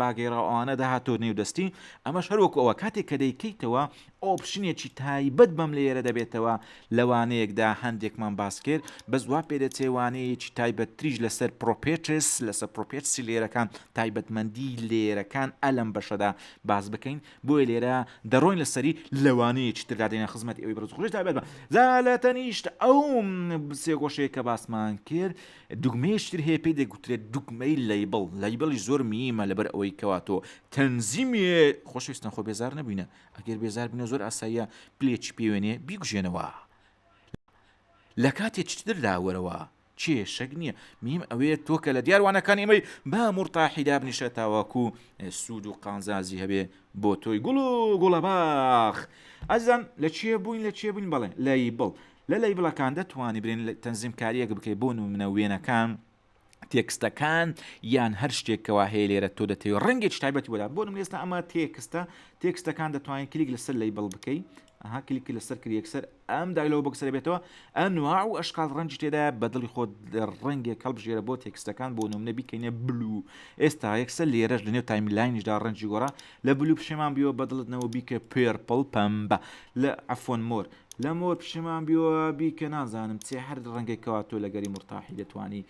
باگێراو ئەوانە داهاتۆ نێو دەستی ئەمەش هەروەکو ئەوە کاتێک کە دەیکەیتەوە ئۆپشنێکی تایبەت بەم لێرە دەبێتەوە لەوانەیەکدا هەندێکمان باس کرد بەس وا پێ دەچێ وانەیەکی تایبەت تریش لەسەر پرۆپێترس لەسەر پرۆپێتسی لێرەکان تایبەتمەندی لێرەکان ئەلم بەشەدا باس بکەین بۆیە لێرە دەڕۆین لەسەری لەوانەیەکی تردا دێنە خزمەت ئەوی بەرز خۆش تایبەت بە زالە تەنیشت ئەو سێگۆشەیە کە باسمان کرد دوگمەیەکی تر هەیە پێی دەگوترێت دوگمەی لەیبڵ، لەیبڵیش زۆر مییمە لەبەر ئەوەی کەوا تۆ تەنزیمێ خۆشەویستان خۆ بێزار نەبووینە ئەگەر بێزار بووینە زۆر ئاساییە پلێکی پێوێنێ بیکوژێنەوە لە کاتێ چتردا وەرەوە کێشەک نییە میم ئەوەیە تۆ کە لە دیاروانەکان ئێمەی با مورتاحی دابنیشە تاواکو سوود و قانزازی هەبێ بۆ تۆی گوڵ و گوڵەباخ ئەزان لە چێ بووین لە چێ بووین بەڵێ لای بڵ لە لەیبڵەکان دەتوانی برین تەنزیمکاریەک بکەی بۆ نمونە وێنەکان تێکستەکان یان هەر شتێک کەوا هەیە لێرە تۆ دەتەوێت ڕەنگێک تایبەتی بۆدا بۆ نمێستا ئەمە تێکستە تێکستەکان دەتوانین کلیک لەسەر لی بڵ بکەی ئەها کلیک لەسەر کریەکسەر ئەم دایلەوە بەکسەر بێتەوە ئەنوا و ئەشقال ڕەنج تێدا بەدڵی خۆت ڕەنگێک هەڵبژێرە بۆ تێکستەکان بۆ نمونە بیکەینە بلو ئێستا یەکسەر لێرەش لەنێو تایملینیشدا ڕەنجی گۆڕا لە بلو پشێمان بیەوە بەدڵتنەوە بیکە پێرپڵ پەمبە لە ئەفۆن مۆر لە مۆر پشیمان بیوە بیکە نازانم چێ هەر ڕەنگێک کەوا تۆ لەگەری مرتاحی دەتوانی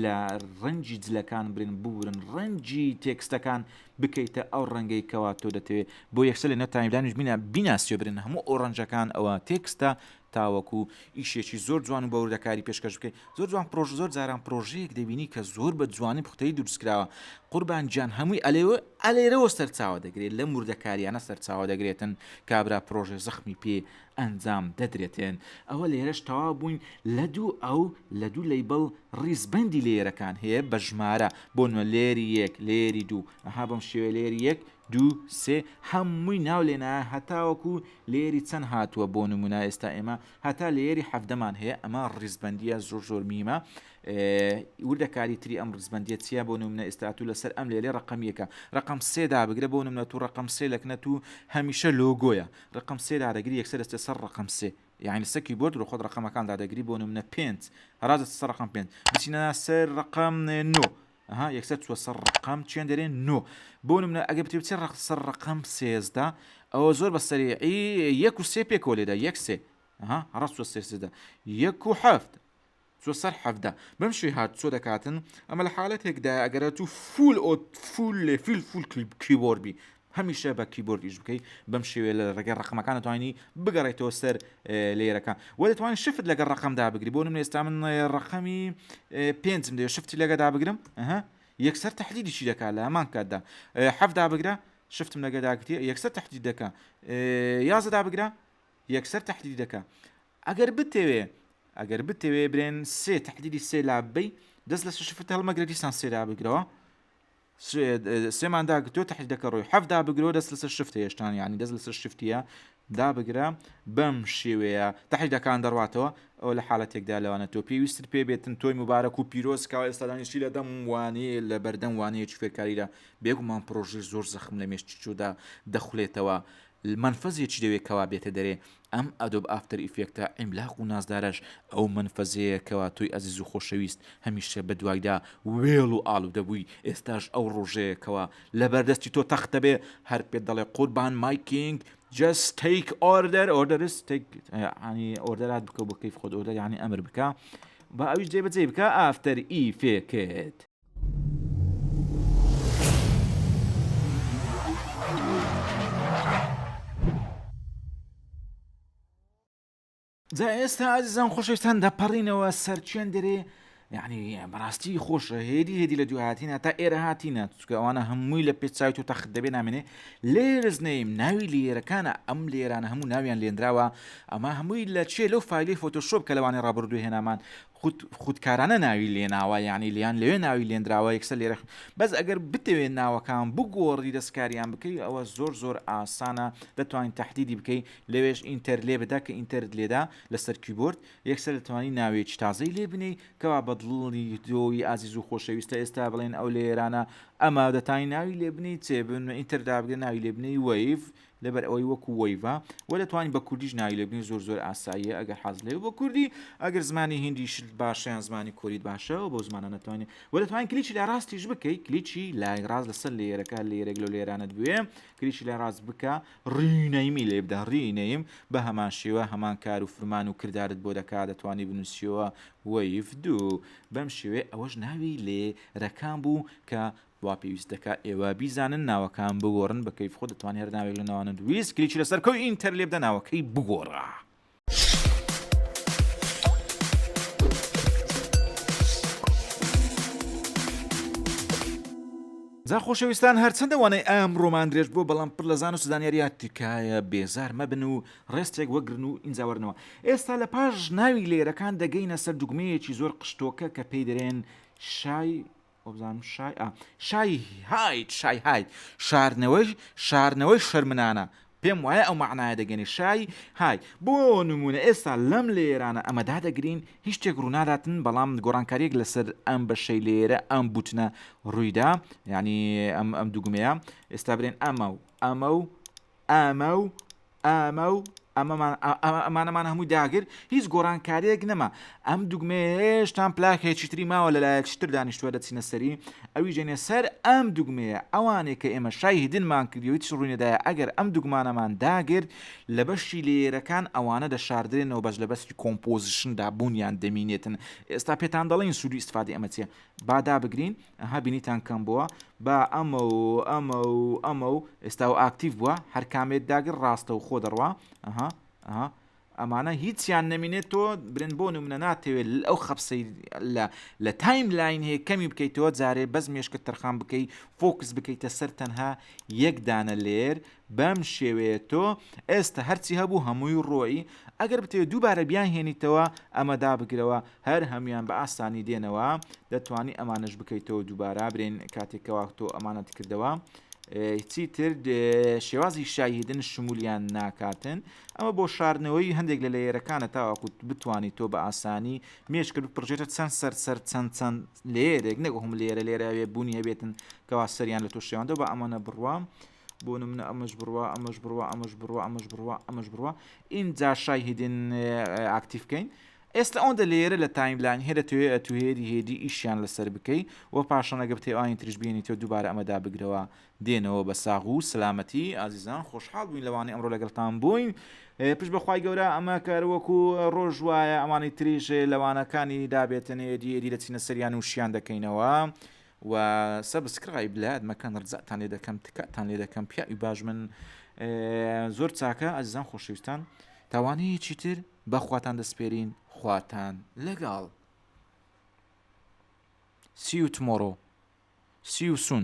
لە ڕەنجی جلەکان برن ببورن ڕەنجی تێکستەکان بکەیتە ئەو ڕەنگەی کەوا تۆ دەتەوێت بۆ یەکسە لە نەتانیدانش بینە بیناسیێ برن هەموو ئەو ڕەنجەکان ئەوە تێکستە تاوەکو ئیشێکی زۆر جوان و بەوردەکاری پێشکەش بکەیت زۆر جوان پڕۆژە زۆر جاران پڕۆژەیەک دەبینی کە زۆر بە جوانی پوختەی دروستکراوە قوربان گیان هەمووی ئەلێوە ئەلێرەوە سەرچاوە دەگرێت لە موردەکاریانە سەرچاوە دەگرێتن کابرا پرۆژێ زەخمی پێ ئەنجام دەدرێتێن ئەوە لێرەش تەوا بووین لە دوو ئەو لە دوو لەیبڵ ڕیزبندی لێرەکان هەیە بە ژمارە بۆ نوە لێری یەک لێری دوو ئەها بەم شێوێ لێری یەک دوو سێ هەمووی ناو لێنا هەتاوەکو لێری چەند هاتووە بۆ نمونا ئێستا ئێمە هەتا لەیەری حەڤدەمان هەیە ئەمە ڕیزبەندیە زۆر زۆر میمە وردەکاری تری ئەم ڕزبندیە چیە بۆ نمونە ئێستاتو لەسەر ئەم لێرێ ڕقم یەکە ڕقم سێدا بگرە بۆ نمونە تو ڕقم سێ لەکنە تو هەمیشە لۆگۆیە ڕقم سێدا دەگری یەکسەر دەستێ سەر ڕقم سێ یعنی سەکی بۆرد لە خۆت ڕقەمەکاندا دەگری بۆ نمونە پێنج هەراز سەر ڕقم پێنج بچینە سەر ڕقم نۆ ئەها یەکسەر چووە سەر ڕەقەم چیان دەرێ نۆ بۆ نمونە ئەگە بتێ بچێ ڕەق سەر ڕەقەم سێزدە ئەوە زۆر بە سەریعی یەک و سێ پێکەوە لێدا یەک سێ ئەها هەڕەس چووە سێزدە یەک و حەفت چۆ سەر حەفدا بەم شوی هات چۆ دەکاتن ئەمە لە حالەتێکدا ئەگەرە تو فول ئۆ فول لێ فیل فول کیبۆربی هەمیشە بە کیبۆرد ئیش بکەی بەم شێوەیە لە ڕێگەی ڕەقەمەکان دەتوانی بگەڕێیتەوە سەر لەیەرەکان وە دەتوانانی شفت لەگەڵ ڕەقەم دابگری بۆ نمونە ئێستا من ڕەقەمی پێنجم دەوێت شفتی لەگە دابگرم ئەها یەکسەر تحلیلیشی دەکات لە هەمان کاتدا حەف دابگرە شفتم لەگە داگرێ یەکسەر تحلیل دەکە یازە دابگرە یەکسەر تحلیل دەکە ئەگەر بتەوێ ئەگەر بتەوێ برێن سێ تحلیلی سێ لابەی دەست لە شفت هەڵمەگرە دیسان سێ دابگرەوە سوێمان داک تۆ تحت دەکە ڕۆی حەف دابگرۆ دەست لەسەر شفت هێشتان یعنی دەست لەسەر شفتە دابگرە بەم شێوەیە تحیدەکان دەڕاتەوە ئەو لە حالەتێکدا لەوانە تۆ پێویستت پێ بێتن تۆی مبارەک و پیرۆزکە ئێستادانیشی لە دەم وانەیە لە بەردەم وانەیەکی فێرکاریدا بێگومان پرۆژی زۆر زەخم لە مێشتیچودا دەخولێتەوە مەنفەزێ چی دەوێ کەوا بێتە دەرێ ئەم ئەدۆب ئافتەر ئیفێکتە عیملاق و نازدارەش ئەو مەنفەزەیە کەوا تۆی ئەزیز و خۆشەویست هەمیشە بە دوایدا وێڵ و ئاڵودە بووی ئێستاش ئەو ڕۆژەیە کەوا لەبەر دەستی تۆ تەخت دەبێ هەر پێت دەڵێ قوربان مای کینگ جەست تەیک ئۆردەر ئۆردەرس تەیک یانی ئۆردەرات بکە بۆ کەیف خۆت ئۆردەر یانی ئەمر بکە با ئەویش جێبەجێ بکە ئافتەر ئیفێکت جا ئێستا ئازیزان خۆشەویستان دەپەڕینەوە سەر چێن دەرێ یعنی بەڕاستی خۆشە هێدی هێدی لە دوهاتینە تا ئێرە هاتینە چکە ئەوانە هەمووی لە پێچوی و تەخت دەبێ نامێنێ لێرز نیم ناوی لێرەکانە ئەم لێرانە هەموو ناویان لێنراوە ئەمە هەمووی لە چێ لەو فیلی فۆتۆشۆپ کە لەوانی ڕابردو هێنامان خود خودکارانە ناوی لێناوە یانی لیان لەوێ ناوی لێنراوە یەکسەر لێرە بەس ئەگەر بتەوێت ناوەکان بگۆڕی دەستکاریان بکەی ئەوە زۆر زۆر ئاسانە دەتوانین تهدیدی بکەی لەوێش ئینتەر لێ بدا کە ئینتەرت لێدا لەسەر کیبۆرد یەکسەر دەتوانانی ناوێکی تازەی لێ بنێی کەوا بەدڵی دۆی ئازیز و خۆشەویستە ئێستا بڵێن ئەو لێرانە ئەمە دەتانی ناوی لێ بنی چێ بن ئینتەر دابگە ناوی لێ بنی وەیف لەبەر ئەوەی وەکو وەیڤە وە دەتوانی بە کوردیش ناوی لێ بنێی زۆر زۆر ئاساییە ئەگەر حەزت لێ بوو بە کوردی ئەگەر زمانی هیندیشت باشە یان زمانی کۆریت باشە وە بەو زمانانە دەتوانی وە دەتوانی کلیکی لای ڕاستیش بکەی کلیکی لای ڕاست لەسەر لەیەرەکە هەر لەیەرێک لەو لەیەرانەت بوێ کلیکی لای ڕاست بکە Rename لێ بدە Rename بە هەمان شێوە هەمان کار و فرمان و کردارت بۆ دەکا دەتوانی بنوسیەوە وەیڤ دوو بەم شێوەیە ئەوەش ناوی لێ رەکان بوو کە وا پێویست دەکا ئێوە بیزانن ناوەکان بگۆڕن بە کەیف خۆت دەتوانی هەر ناوێک لە ناوانەت ویست کلیکی لەسەر کۆی ئینتەر لێبدە ناوەکەی بگۆڕە. جا خۆشەویستان هەرچەندە وانەی ئام ڕۆمان درێژ بۆ بەڵام پڕ لە زان و سزانیاریا تکایە بێزار مەبن و ڕێستێک وەگرن و ئینجاوەرنەوە ئێستا لە پاش ناوی لێرەکان دەگەینە سەر دوگمەیەکی زۆر قشتۆکە کە پێی دەرێن شای وابزانم شای ئا شای هاید شای هاید شاردنەوەی شارنەوەی شەرمنانە پێم وایە ئەو مەعنایە دەگەنێ شای های بۆ نمونە ئێستا لەم لێرانە ئەمە دادەگرین هیچ شتێک ڕووناداتن بەڵام گۆڕانکاریەک لەسەر ئەم بەشەی لێرە ئەم بوتنە ڕوویدا یعنی ئەم ئەم دوگمەیە ئێستا برێن ئەمە و ئەمە و ئەمە و ئەمە و ئەمانەمان هەمووی داگر هیچ گۆڕانکاریەک نەما ئەم دوگمێ هێشتان پلاکێکی تری ماوە لەلایەک شتر دانیشتوە دەچینە سەری ئەوی ژێنێ سەر ئەم دوگمەیە ئەوانێک کە ئێمە شای هیدنمان کردی هیچ ڕووینەدایە ئەگەر ئەم دوگمانەمان داگرت لە بەشی لێرەکان ئەوانە دەشاردرێنەوە بەش لە بەستی کۆمپۆزیشندا بوونیان دەمینێتن ئێستا پێتان دەڵین سوودی ئیسفادی ئەمە چیە با دابگرین ئەها بینیتان کەم بووە با ئەمە و ئەمە و ئەمە و ئێستا و ئاکتیڤ بووە هەر کامێت داگر ڕاستە و خۆ دەڕوا ئەها ئەها ئەمانە هیچیان نەمینێت تۆ برن بۆن و منە ناتەوێت ئەو خەپسەی لە لە تایم لاین هەیە کەمی بکەیتەوە جارێ بەس مێشکە تەرخان بکەی فۆکس بکەیتە سەر تەنها یەک دانە لێر بەم شێوەیە تۆ ئێستە هەرچی هەبوو هەمووی ڕۆیی، ئەگەر بتەوێت دووبارە بیانهێنیتەوە ئەمە دابگرەوە هەر هەموویان بە ئاسانی دێنەوە، دەتوانی ئەمانەش بکەیتەوە دووبارە برێن کاتێک کەوا تۆ ئەمانەت کردەوە. هیچی تر شێوازی شایهدن شمولیان ناکاتن ئەمە بۆ شاردنەوەی هەندێک لە لەیەرەکانە تاواکوت بتانی تۆ بە ئاسانی مێشکرد بپڕژێتە چەند سەر سەر چەند چەند لێرێک نەگە هم لێرە لێرە ئەوێ بوونی هەبێتن کەوا سەریان لە تۆ شێواندەوە بە ئەمانە بڕوام. بۆ نمونە ئەمەش بڕوا ئەمەش بڕوا ئەمەش بڕوا ئەمەش بڕوا ئەمەش بڕوا ئینجا شای هیدن ئاکتیف بکەین ئێستا ئەوەندە لێرە لە تایملاین هەیە دەتەوێ ئەتوێری هێدی ئیشیان لەسەر بکەی و پاشان ئەگە بتێ ئاین تریش بێنیتەوە دووبارە ئەمە دابگرەوە دێنەوە بە ساغ و سلامەتی ئازیزان خۆشحاڵ بووین لەوانەی ئەمڕۆ لەگەڵتان بووین پشت بەخوای گەورە ئەمە کەروەکو ڕۆژ وایە ئەمانی تریژێ لەوانەکانی دابێتن هێدی هێدی دەچینە سەریان و شیان دەکەینەوە و سەبسکرایب لەیاد مەکەن ڕزاتان لێ دەکەم تکاتان لێ دەکەم پیاوی باش من زۆر چاکە ئەزیزان خۆشەویستان تاوانەیە چیتر بەخواتان دەسپێرین خواتان لەگەڵ سی و تمۆڕۆ سی و سون